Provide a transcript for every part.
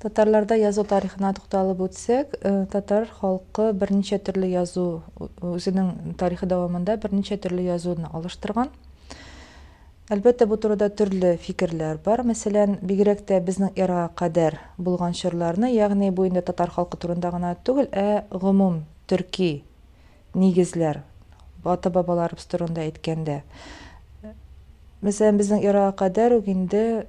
Татарларда язу тарихына тукталып үтсәк, э, татар халкы берничә төрле язу үзенең тарихы дәвамында берничә төрле язуны алыштырган. Әлбәттә, бу турыда төрле фикерләр бар. Мәсәлән, бигрәк тә безнең эрага кадәр булган чорларны, ягъни бу инде татар халкы турында гына түгел, ә гомум төрки Нигезләр. Ата-бабаларыбыз турында әйткәндә, мәсәлән, безнең эрага кадәр үк инде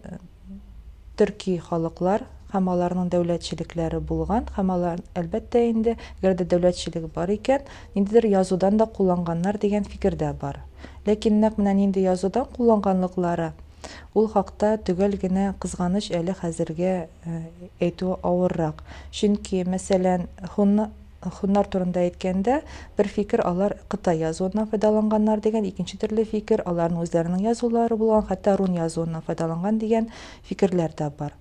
төрки халыклар һәм аларның дәүләтчелекләре булган һәм алар, әлбәттә инде, әгәр дә дәүләтчелек бар икән, ниндидер язудан да кулланганнар дигән фикер дә бар. Ләкин нәкъ менә нинди язудан кулланганлыклары, ул хакта төгәл генә, кызганыч, әле хәзергә әйтү авыррак. Чөнки, мәсәлән, һуннар. Һуннар турында әйткәндә, бер фикер алар кытай язуыннан файдаланганнар дигән, икенче төрле фикер аларның үзләренең язулары булган, хәтта рун язуыннан файдаланган дигән фикерләр дә бар.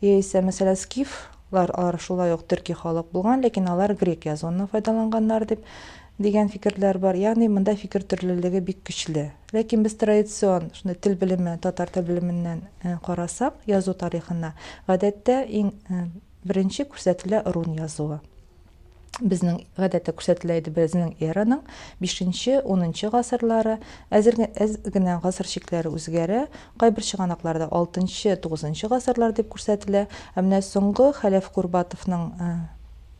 Яисә, мәсәлән, скиф лар алар шулай ук төрки халык булган, ләкин алар грек язуыннан файдаланганнар дип дигән фикерләр бар. Ягъни монда фикер төрлелеге бик көчле. Ләкин без традицион шундый тел белеме, татар тел белеменнән карасак, язу тарихына, гадәттә иң Беренче күрсәтелә рун язуы. Безнең гадәттә күрсәтелә иде безнең эраның бишенче, унынчы гасырлары. Әзер әз генә гасыр чикләре үзгәрә. Кайбер чыганакларда алтынчы, тугызынчы гасырлар дип күрсәтелә. Ә менә соңгы Хәләф Курбатовның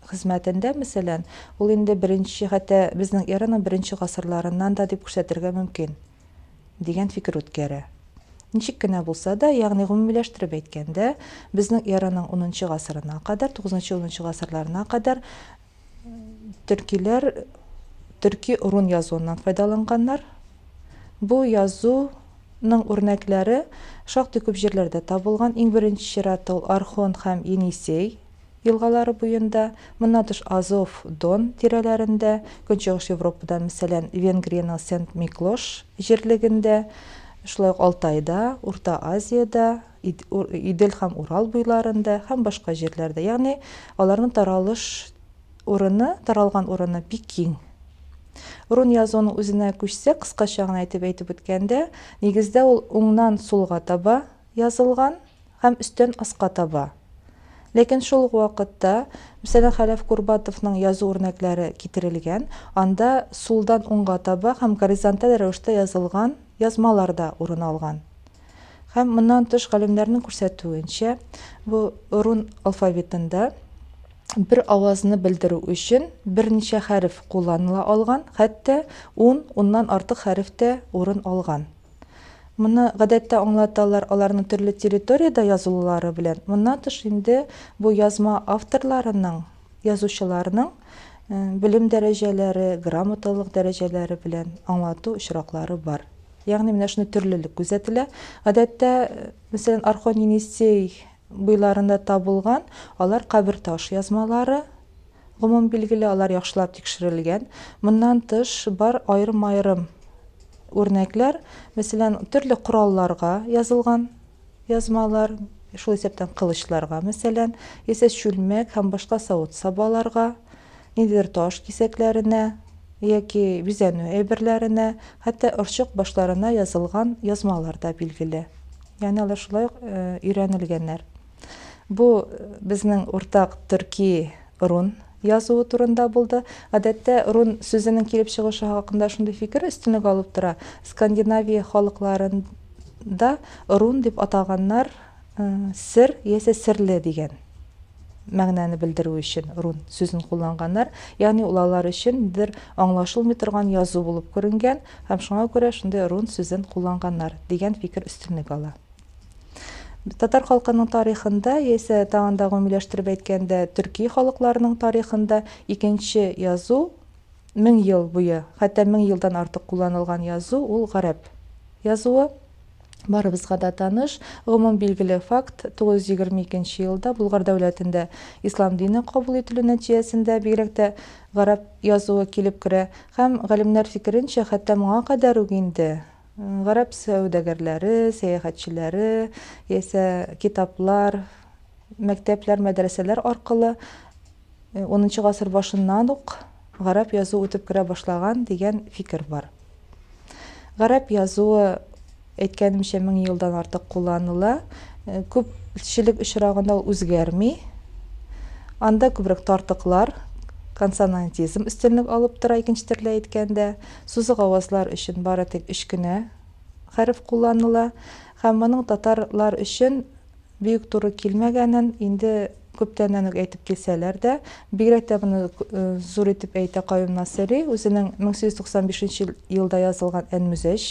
хезмәтендә, мәсәлән, ул инде беренче, хәтта безнең эраның беренче гасырларыннан да дип күрсәтергә мөмкин. дигән фикер үткәрә. Ничек кенә булса да, ягъни гомумиләштереп әйткәндә, безнең эраның унынчы гасырына кадәр, тугызынчы-унынчы гасырларына кадәр төркиләр төрки рун язуыннан файдаланганнар. Бу язу ның үрнәкләре шактый күп җирләрдә табылган, иң беренче чиратта ул Орхон һәм Енисей елгалары буенда, моннан тыш Азов, Дон тирәләрендә, Көнчыгыш Европада, мәсәлән, Венгриянең Сент-Миклош җирлегендә, шулай ук Алтайда, Урта Азиядә, Идел һәм Урал буйларында һәм башка җирләрдә. Ягъни аларның таралыш урыны, таралган урыны бик киң. Рун язуының үзенә күчсәк, кыскача гына итеп әйтеп үткәндә, нигездә ул уңнан сулга таба язылган, Һәм өстән аска таба. Ләкин шул ук вакытта, мәсәлән, Хәләф Курбатовның язу үрнәкләре китерелгән, анда сулдан уңга таба һәм горизонталь рәвештә язылган язмалар да урын алган. Һәм моннан тыш галимнәрнең күрсәтүенчә, бу рун алфавитында бер авазны белдерү өчен берничә хәреф кулланыла алган, хәтта ун, уннан артык хәреф тә урын алган. Моны гадәттә аңлаталар аларның төрле территориядә язылулары белән. Моннан тыш инде бу язма авторларының, язучыларның белем дәрәҗәләре, грамоталылык дәрәҗәләре белән аңлату очраклары бар. Ягъни менә шундый төрлелек күзәтелә. Гадәттә, мәсәлән, Орхон-Енисей буйларында табылган алар кабер таш язмалары, Гомум билгеле, алар яхшылап тикшерелгән. Моннан тыш, бар аерым-аерым үрнәкләр, мәсәлән, төрле коралларга язылган язмалар, шул исәптән кылычларга, мәсәлән, яисә чүлмәк һәм башка савыт-сабаларга, ниндидер таш кисәкләренә яки бизәнү әйберләренә, хәтта орчык башларына язылган язмалар да билгеле. Ягъни алар шулай ук өйрәнелгәннәр. Бу безнең уртак төрки рун язуы турында булды. Гадәттә, рун сүзенең килеп чыгышы хакында шундый фикер өстенлек алып тора. Скандинавия халыкларында рун дип атаганнар э, сер яисә серле дигән мәгънәне белдерү өчен рун сүзен кулланганнар. Ягъни ул алар өчен бер аңлашылмый торган язу булып күренгән һәм шуңа күрә шундый рун сүзен кулланганнар дигән фикер өстенлек ала. Татар халкының тарихында, яисә тагын да гомумиләштереп әйткәндә, төрки халыкларның тарихында икенче язу мең ел буе, хәтта мең елдан артык кулланылган язу ул гарәп язуы. Барыбызга да таныш, гомум билгеле факт, 922 елда Булгар дәүләтендә ислам дине кабул ителү нәтиҗәсендә бигрәк тә гарәп язуы килеп керә һәм, галимнәр фикеренчә, хәтта моңа кадәр үк инде Гарәп сәүдәгәрләре, сәяхәтчеләре яисә китаплар, мәктәпләр, мәдрәсәләр аркылы унынчы гасыр башыннан ук гарәп язуы үтеп керә башлаган дигән фикер бар. Гарәп язуы, әйткәнемчә, мең елдан артык кулланыла. Күпчелек очрагында ул үзгәрми. Анда күбрәк тартыклар, консонантизм өстенлек алып тора, икенче төрле әйткәндә. Сузык авазлар өчен бары тик өч кенә хәреф кулланыла һәм моның татар лар өчен биүк туры килмәгәнен инде күптәннән үк әйтеп килсәләр дә, бигрәк тә моны зур итеп әйтә Каюм Насыйри үзенең 1895 нче елда язылган Әнмүзәҗ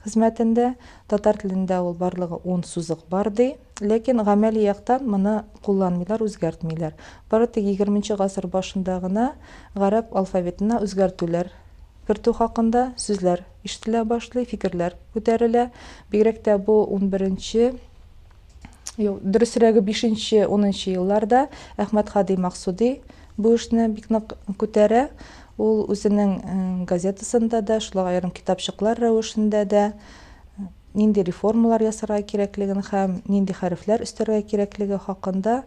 хезмәтендә, татар телендә ул барлыгы ун сузык бар ди. Ләкин гамәли яктан моны кулланмыйлар, үзгәртмиләр. Бары тик егерменче гасыр башында гына гарәп алфавитына үзгәртүләр кертү хакында сүзләр ишетелә башлый, фикерләр күтәрелә. Бигрәк тә бу унберенче, юк, дөресрәге, бишенче, унынчы елларда Әхмәт хади Максуди бу эшне бик нык күтәрә. Ул үзенең газетасында да, шулай ук аерым китапчыклар рәвешендә дә, нинди реформалар ясарга кирәклеген һәм нинди хәрефләр өстәргә кирәклеге хакында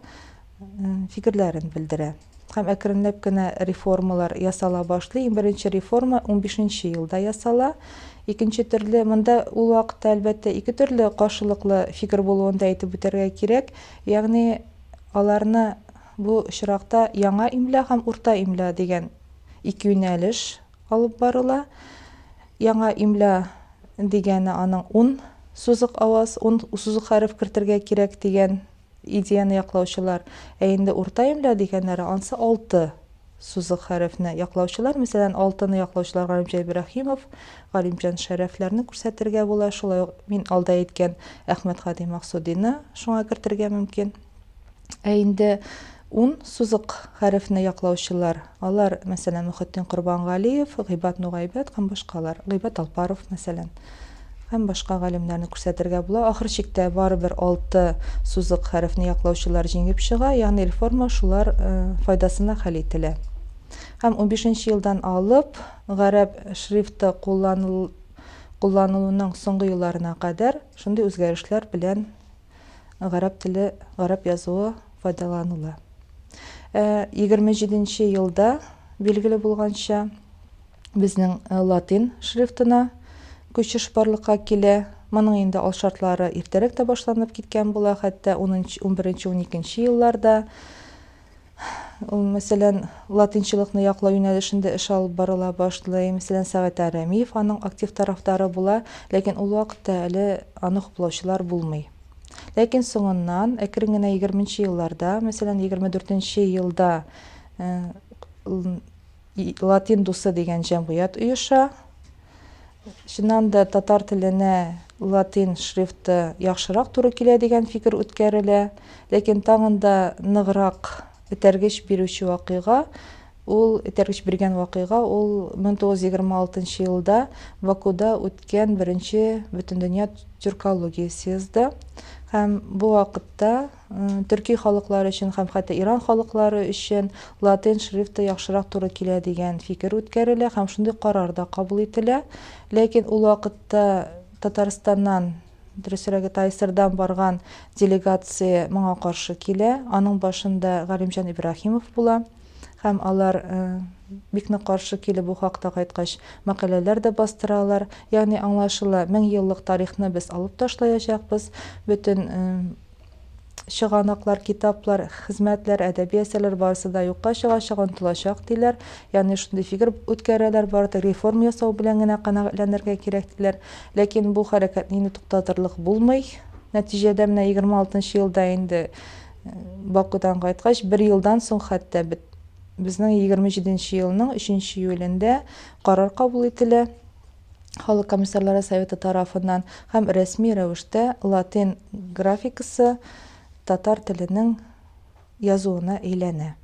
фикерләрен белдерә. Һәм әкренләп кенә реформалар ясала башлый. Иң беренче реформа унбишенче елда ясала. Икенче төрле, монда ул вакытта, әлбәттә, ике төрле каршылыклы фикер булуын да әйтеп үтәргә кирәк. Ягъни аларны бу очракта яңа имля һәм урта имля дигән ике юнәлеш алып барыла. Яңа имля дигәне аның ун сузык аваз, ун сузык хәреф кертергә кирәк дигән идеяне яклаучылар. Ә инде урта имля дигәннәре ансы алты сузык хәрефне яклаучылар. Мәсәлән, алтыны яклаучылар Галимҗан Ибраһимов, Галимҗан Шәрәфләрне күрсәтергә була. Шулай ук мин алда әйткән Әхмәтгали Максудины шуңа кертергә мөмкин. Ә инде ун сузык хәрефне яклаучылар, алар, мәсәлән, Мөхетдин Корбангалиев, Гыйбад Нугайбәт һәм башкалар, Гыйбад Алпаров, мәсәлән, һәм башка галимнәрне күрсәтергә була. Ахыр чиктә барыбер алты сузык хәрефне яклаучылар җиңеп чыга, ягъни реформа шулар э, файдасына хәл ителә. Һәм 15 елдан алып гарәп шрифты кулланылуның соңгы елларына кадәр шундый үзгәрешләр белән гарәп теле, гарәп язуы файдаланыла. Ә 27 нче елда, билгеле булганча, безнең э, латин шрифтына күчеш барлыкка килә. Моның инде ал шартлары иртәрәк тә башланып киткән була, хәтта 11-12 елларда. Ул, мәсәлән, латинчылыкны яклау юнәлешендә эш алып барыла башлый. Мәсәлән, Сәгатә Рәмиев аның актив тарафдары була, ләкин ул вакытта әле аны хуплаучылар булмый. Ләкин соңыннан, әкрен генә егерменче елларда, мәсәлән, егерме дүртенче елда И Латин дусы дигән җәмгыять оеша. Чыннан да татар теленә латин шрифты яхшырак туры килә дигән фикер үткәрелә. Ләкин тагын да ныграк этәргеч бирүче вакыйга, ул этәргеч биргән вакыйга, ул 1926 елда Бакуда үткән беренче Бөтендөнья тюркология съезды һәм бу вакытта, төрки халыклар өчен һәм хәтта Иран халыклары өчен латин шрифты яхшырак туры килә дигән фикер үткәрелә һәм шундый карар да кабул ителә. Ләкин ул вакытта Татарстаннан, дөресрәге ТАССРдан барган делегация моңа каршы килә, аның башында Галимҗан Ибраһимов була һәм алар бик нык каршы килеп бу хакта кайткач мәкаләләр дә бастыралар. Ягъни аңлашыла, мең еллык тарихны без алып ташлаячакбыз, бөтен чыганаклар, китаплар, хезмәтләр, әдәби әсәрләр барысы да юкка чыгачак, онытылачак, диләр. Ягъни шундый фикер үткәрәләр, бары тик реформа ясау белән генә канәгатьләнергә кирәк, диләр. Ләкин бу хәрәкәтне инде туктатырлык булмый. Нәтиҗәдә менә егерме алтынчы елда инде Бакудан кайткач, бер елдан соң хәтта безнең егерме җиденче елның өченче июлендә карар кабул ителә. Халык комиссарлары советы тарафыннан һәм рәсми рәвештә латин графикасы татар теленең язуына әйләнә.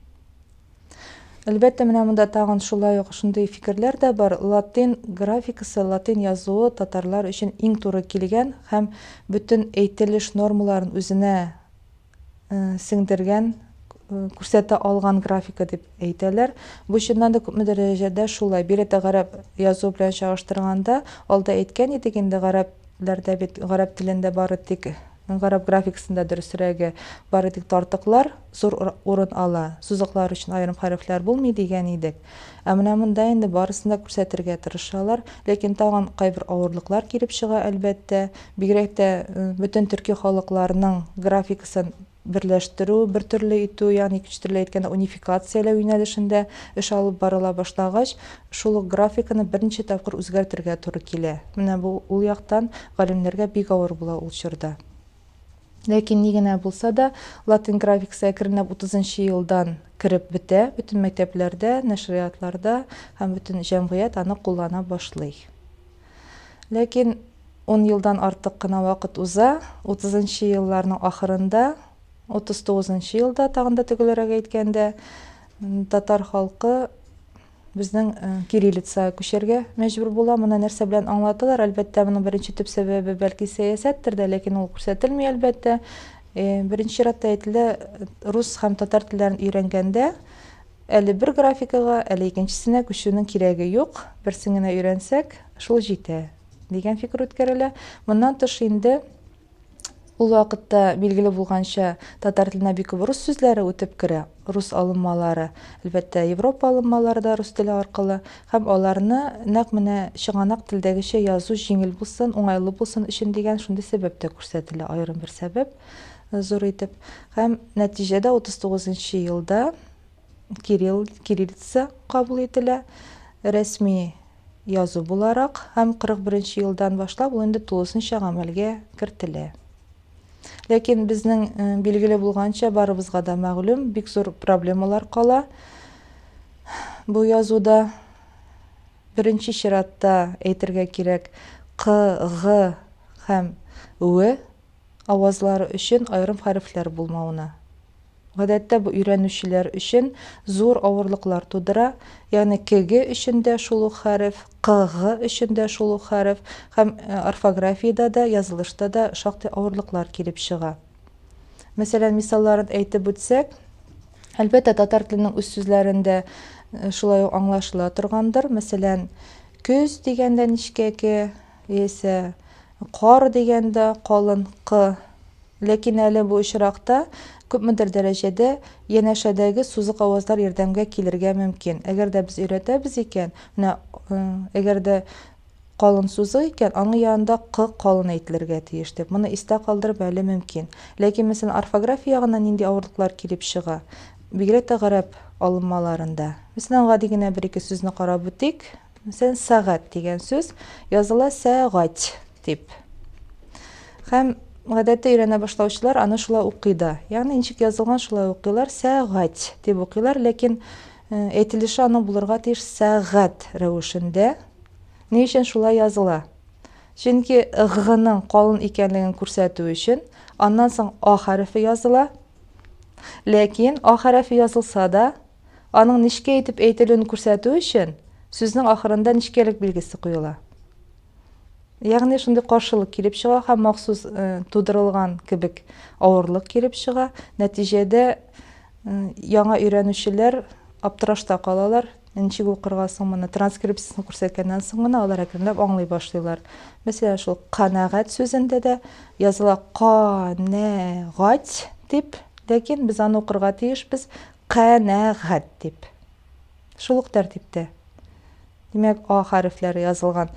Әлбәттә, менә монда тагын шулай ук шундый фикерләр дә бар, латин графикасы, латин язуы татарлар өчен иң туры килгән һәм бөтен әйтелеш нормаларын үзенә сеңдергән, күрсәтә алган графика дип әйтәләр. Бу чыннан да күпмедер дәрәҗәдә шулай. Биредә гарәп язуы белән чагыштырганда, алда әйткән идек инде, гарәпләрдә бит гарәп телендә бары тик гарәп графикасында дөресрәге, бары тик тартыклар зур урын ала, сузыклар өчен аерым хәрефләр булмый дигән идек. Ә менә монда инде барысын да күрсәтергә тырышалар. Ләкин тагын кайбер авырлыклар килеп чыга, әлбәттә. Бигрәк тә бөтен төрки халыкларның графикасын берләштерү, бертөрле итү, ягъни икенче төрле әйткәндә, унификацияләү юнәлешендә эш алып барыла башлагач, шул ук графиканы берничә тапкыр үзгәртергә туры килә. Менә бу ул яктан галимнәргә бик авыр була ул чорда. Ләкин ни генә булса да, латин графикасы әкренләп утызынчы елдан кереп бетә, бөтен мәктәпләрдә, нәшриятларда һәм бөтен җәмгыять аны куллана башлый. Ләкин ун елдан артык кына вакыт уза, утызынчы елларның ахырында, утыз тугызынчы елда, тагын да төгәлрәк әйткәндә, татар халкы, Безнең кириллица күчәргә мәҗбүр була. Моны нәрсә белән аңлаталар? Әлбәттә, моның беренче төп сәбәбе бәлки сәясәттер дә, ләкин ул күрсәтелми, әлбәттә. Беренче чиратта әйтелә, рус һәм татар телләрен өйрәнгәндә, әле бер графикага, әле икенчесенә күчүнең кирәге юк, берсен генә өйрәнсәк, шул җитә, дигән фикер үткәрелә. Моннан тыш инде, Ул вакытта, билгеле булганча, татар теленә бик күп рус сүзләре үтеп керә, рус алынмалары, әлбәттә, Европа алынмалары да рус теле аркылы, һәм аларны нәкъ менә чыганак телдәгечә язу җиңел булсын, уңайлы булсын өчен дигән шундый сәбәп тә күрсәтелә, аерым бер сәбәп зур итеп. Һәм нәтиҗәдә 39 нчы елда, Кирилл, кириллица, кабул ителә. Рәсми язу буларак һәм 41-нче елдан башлап ул инде тулысынча гамәлгә кертелә. Ләкин безнең билгеле булганча, барыбызга да мәгълүм, бик зур проблемалар кала бу язуда. Беренче чиратта әйтергә кирәк, К, Г һәм В. авазлары өчен аерым хәрефләр булмавына. Гадәттә бу өйрәнүчеләр өчен зур авырлыклар тудыра, ягъни кеге өчен дә шул ук хәреф, кгы өчен дә шул ук хәреф һәм орфографиядә дә, язылышта да шактый авырлыклар килеп чыга. Мәсәлән, мисалларын әйтеп үтсәк, әлбәттә, татар теленең үз сүзләрендә шулай ук аңлашыла торгандыр. Мәсәлән, көз дигәндә нечкә ке, Яисә кар дигәндә калын кы. Ләкин әле бу очракта күпмедер дәрәҗәдә янәшәдәге сузык авазлар ярдәмгә килергә мөмкин. Әгәр дә без өйрәтәбез икән, менә әгәр дә калын сузык икән, аның янында кы калын әйтелергә тиеш дип. Моны истә калдырып әле мөмкин. Ләкин, мәсәлән, орфография ягыннан нинди авырлыклар килеп чыга? Бигрәк тә гарәп алынмаларында. Мәсәлән, гади генә бер-ике сүзне карап үтик. Мәсәлән, сәгать дигән сүз языла сәгать дип. Һәм гадәттә өйрәнә башлаучылар аны шулай укый да. Ягъни ничек язылган шулай укыйлар, сәгать дип укыйлар, ләкин э, әйтелеше аның булырга тиеш сәгать рәвешендә. Ни өчен шулай языла? Чөнки г-ның калын икәнлеген күрсәтү өчен аннан соң а хәрефе языла. Ләкин а хәрефе язылса да, Аның нечкә итеп әйтелүен күрсәтү өчен, сүзнең ахырында нечкәлек билгесе куела. Ягъни шундый каршылык килеп чыга һәм махсус тудырылган кебек авырлык килеп чыга. Нәтиҗәдә яңа өйрәнүчеләр аптырашта калалар. Ничек укырга соң моны? Транскрипциясен күрсәткәннән соң гына алар әкренләп аңлый башлыйлар. Мәсәлән, шул канәгать сүзендә дә языла ка-нә-гать дип, ләкин без аны укырга тиешбез Канәгать дип. Шул ук тәртиптә. Димәк, а хәрефләре язылган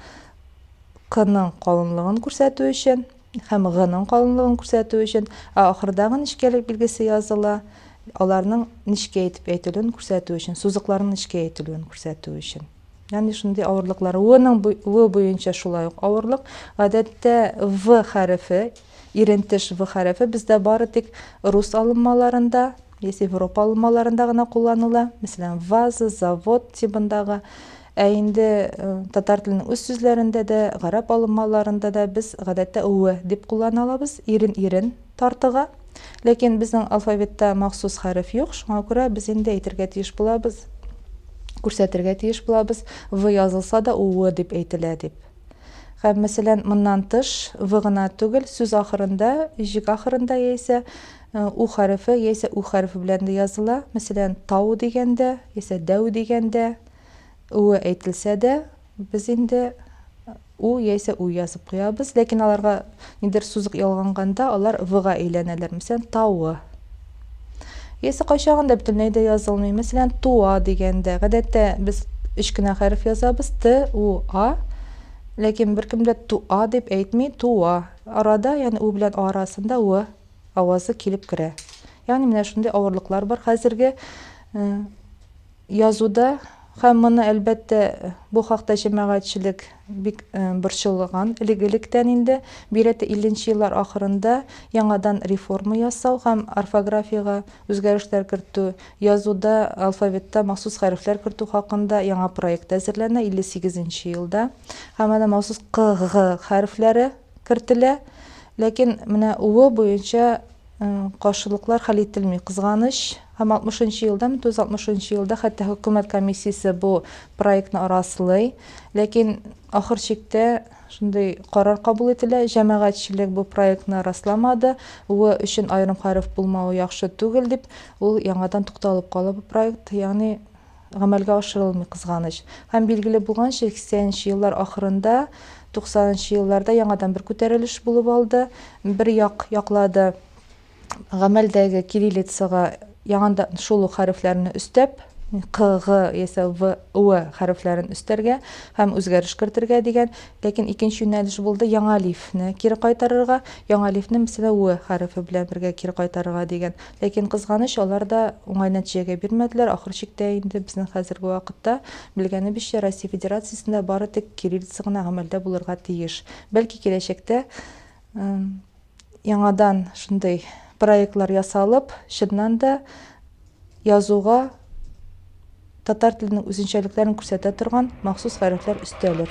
кының калынлыгын күрсәтү өчен һәм гының калынлыгын күрсәтү өчен, ә ахырдагы нечкәлек билгесе языла, аларның нечкә итеп әйтелүен күрсәтү өчен, сузыкларның нечкә әйтелүен күрсәтү өчен. Ягъни шундый авырлыклар. В-ның в буенча шулай ук авырлык. Гадәттә в хәрефе Ирентеш в хәрефе бездә бары тик рус алынмаларында яисә европа алынмаларында гына кулланыла, мәсәлән, ваза, завод тибындагы. Ә инде татар теленең үз сүзләрендә дә, гарәп алынмаларында да без гадәттә в дип куллана алабыз, ирен ирен тартыга. Ләкин безнең алфавитта махсус хәреф юк, шуңа күрә без инде әйтергә тиеш булабыз, күрсәтергә тиеш булабыз, в язылса да, уы дип әйтелә дип. Һәм, мәсәлән, моннан тыш, в гына түгел, сүз ахырында, җөк ахырында яисә у хәрефе яисә ү хәрефе белән дә языла. Мәсәлән, тау дигәндә яисә дәү дигәндә үе әйтелсә дә, без инде у яисә ү язып куябыз, ләкин аларга Нидер сузык ялганганда, алар в-га әйләнәләр. Мәсәлән, тавы. Яисә кайчагында да бөтенләй дә язылмый. Мәсәлән, туа дигәндә. Гадәттә без өч кенә хәреф язабыз, т, у, а. Ләкин беркем дә туа дип әйтми, туа. Арада, ягъни у белән а арасында в авазы килеп керә. Ягъни менә шундый авырлыклар бар хәзерге Язуда, һәм моны, әлбәттә, бу хакта җәмәгатьчелек бик борчылган элек-электән инде, бигрәк-тә илленче еллар ахырында яңадан реформа ясау һәм орфографиягә үзгәрешләр кертү, язуда, алфавитта махсус хәрефләр кертү хакында яңа проект әзерләнә, 58 нче елда, һәм әнә махсус КГ хәрефләре, кертелә. Ләкин менә УО буенча каршылыклар хәл ителми, кызганыч. Һәм 60 нчы елда, 1960 нчы елда хәтта хөкүмәт комиссиясе бу проектны раслый. Ләкин ахыр чиктә шундый карар кабул ителә, җәмәгатьчелек бу проектны расламады, УО өчен аерым хәреф булмавы яхшы түгел дип, ул яңадан тукталып кала бу проект. Ягъни. гамәлгә ашырылмый, кызганыч. Һәм билгеле булганча, сиксәненче еллар ахырында, туксанынчы елларда яңадан бер күтәрелеш булып алды. Бер як яклады гамәлдәге кириллицага яңадан шул ук хәрефләрне өстәп, К, Г яисә В, Ү хәрефләрен өстәргә һәм үзгәреш кертергә дигән. Ләкин икенче юнәлеш булды яңа лифне кире кайтарырга, яңа лифне, мәсәлән, Ү хәрефе белән бергә кире кайтарырга дигән. Ләкин, кызганыч, алар да уңай нәтиҗәгә бирмәделәр. Ахыр чиктә инде безнең хәзерге вакытта, белгәнебезчә, Россия Федерациясендә бары тик кириллица гына гамәлдә булырга тиеш. Бәлки, киләчәктә яңадан шундый проектлар ясалып, чыннан да язуга татар теленең үзенчәлекләрен күрсәтә торган махсус хәрефләр өстәлер.